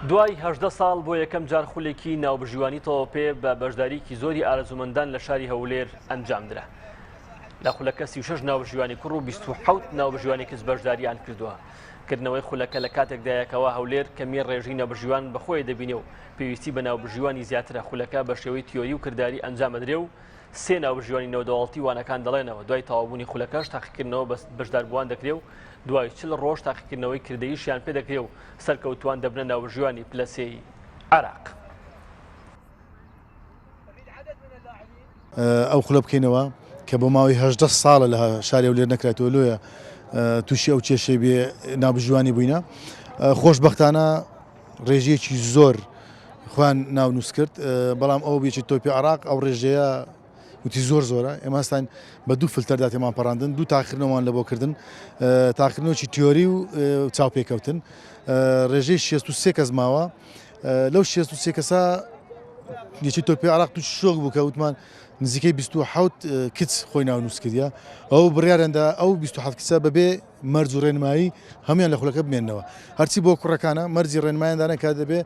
دوای هەژدە ساڵ بۆ یەکەم جار خولێکی ناوبژیوانی تەوەپێ بە بەشداریکی زۆری ئارەزومەندان لە شاری هەولێر ئەنجامدرا. لە خولەکە سی شش ناوژیوانی کوڕ و 26 ناوژیوانی کچ بەشداریان کردووە. کردنەوەی خولەکە لە کاتێکدایەکەوە هەولێر کەمی ڕێژی نەبژیوان بەخۆی دەبینێ و پێویستی بە ناوبژیوانی زیاترە خولەکە بە شێوەی تیۆری و کردداری ئەنجامەدرێ و سێ ناوبژیوانی نێودەوڵەتی وانەکان دەڵێنەوە دوای تەواوبوونی خولەکەش تاقیکردنەوە بە بەشداربووان دەکرێ و دوای چل ڕۆژ تاقیکردنەوەی کردەیشیان پێ دەکرێ و سەرکەوتووان دەبنە ناوبژیوانی پلە سێی عێراق. ئەو خولە بکەینەوە کە بۆ ماوەی هەژدە ساڵە لە شاری هەولێر نەکراتەوە لۆیە تووشی ئەو کێشەی بێ نابژوانی بووینە خۆشببختانە ڕێژەیەکی زۆر خۆیان ناونووس کرد بەڵام ئەو بێکی تۆپی عراق ئەو ڕێژەیە وتی زۆر زۆرە ئێماستان بە دوو فلتەردا تێمان پەڕاندن دوو تاخرنەوەمان لە بۆکردن تاخرنەوەی تیۆری و چاوپێکەوتن ڕێژەی 63 کەس ماوە لەو 63 کەسا یەکی تۆپی عراق تو شۆک بوو کە وتمان نزیکەی 26 کچ خۆی ناونووس کردە ئەو بڕارێندا ئەو 26 کچە بەبێ مەرج و ڕێنمایی هەموان لە خولەکە بمێنەوە هەرچی بۆ کوڕەکانە مەرجی ڕێنمایان دانە کە دەبێ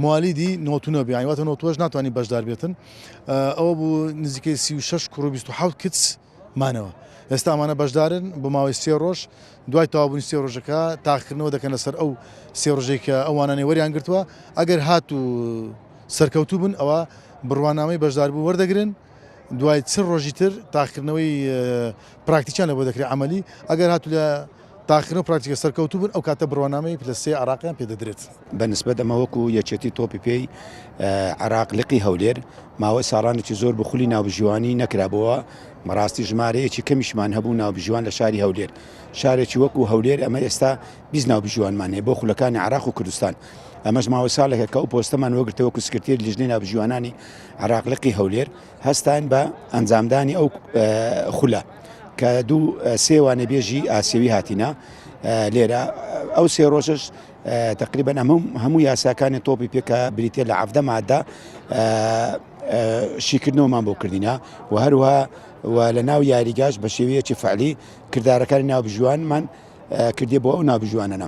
موالیدی نۆتونە بیانی واتە نۆتوەش ناتوانانی بەشدار بێتن ئەوە بوو نزیکەی سی و شش کوڕ و 26 کچ مانەوە ئێستا ئەمانە بەشدارن بۆ ماوەی سێ ڕۆژ دوای تاوابوون سێ ڕۆژەکە تاقکردنەوە دەکەن لەسەر ئەو سێ ڕژەی کە ئەوانانی وەریان گرتووە ئەگەر هات و سەرکەوتوو بن ئەوە بڕوانامەی بەشداربوو وەردەگرن دوای چ ڕۆژی تر تاقیکردنەوەی پراکتیکیان لە بۆ دەکرێت عملی ئەگەر هاتو لە تاقیکردن پراکتیکە سەرکەوتو بن ئەو کاتە بڕوانامەی پلە سێ عراقیان پێ دەدرێت بەنسبەت ئەمە وەکو یەکێتی تۆپی پێی عراق لقی هەولێر ماوەی ساڵانێکی زۆر بخولی ناوبژیوانی نەکرابەوە مەڕاستی ژمارەیەکی کەمیشمان هەبوو ناوبژیوان لە شاری هەولێر شارێکی وەکو هەولێر ئەمە ئێستا بیست ناوبژیوانمان هەیە بۆ خولەکانی عێراق و کوردستان، ئەمەش ماوەی ساڵێکە کە ئەو پۆستەمان وەگرتەوە وەکو سکرتێری لیژنەی ناوبژیوانانی عێراق لقی هەولێر، هەستاین بە ئەنجامدانی ئەو خولە کە دوو سێ وانەبێژی ئاسیەوی هاتینە لێرە ئەو سێ ڕۆژش تقریبا ئەمە هەموو یاساکانی تۆپی پێکە بریتە لە عەفدە مادە شیکردنەوەمان بۆ کردینە و هەروە و لە ناو یاریگاش بە شێوەیەکی فەعلی کردارەکانی ناوبژیوانمان کردیە بۆ ئەو ناوبژیوانانە.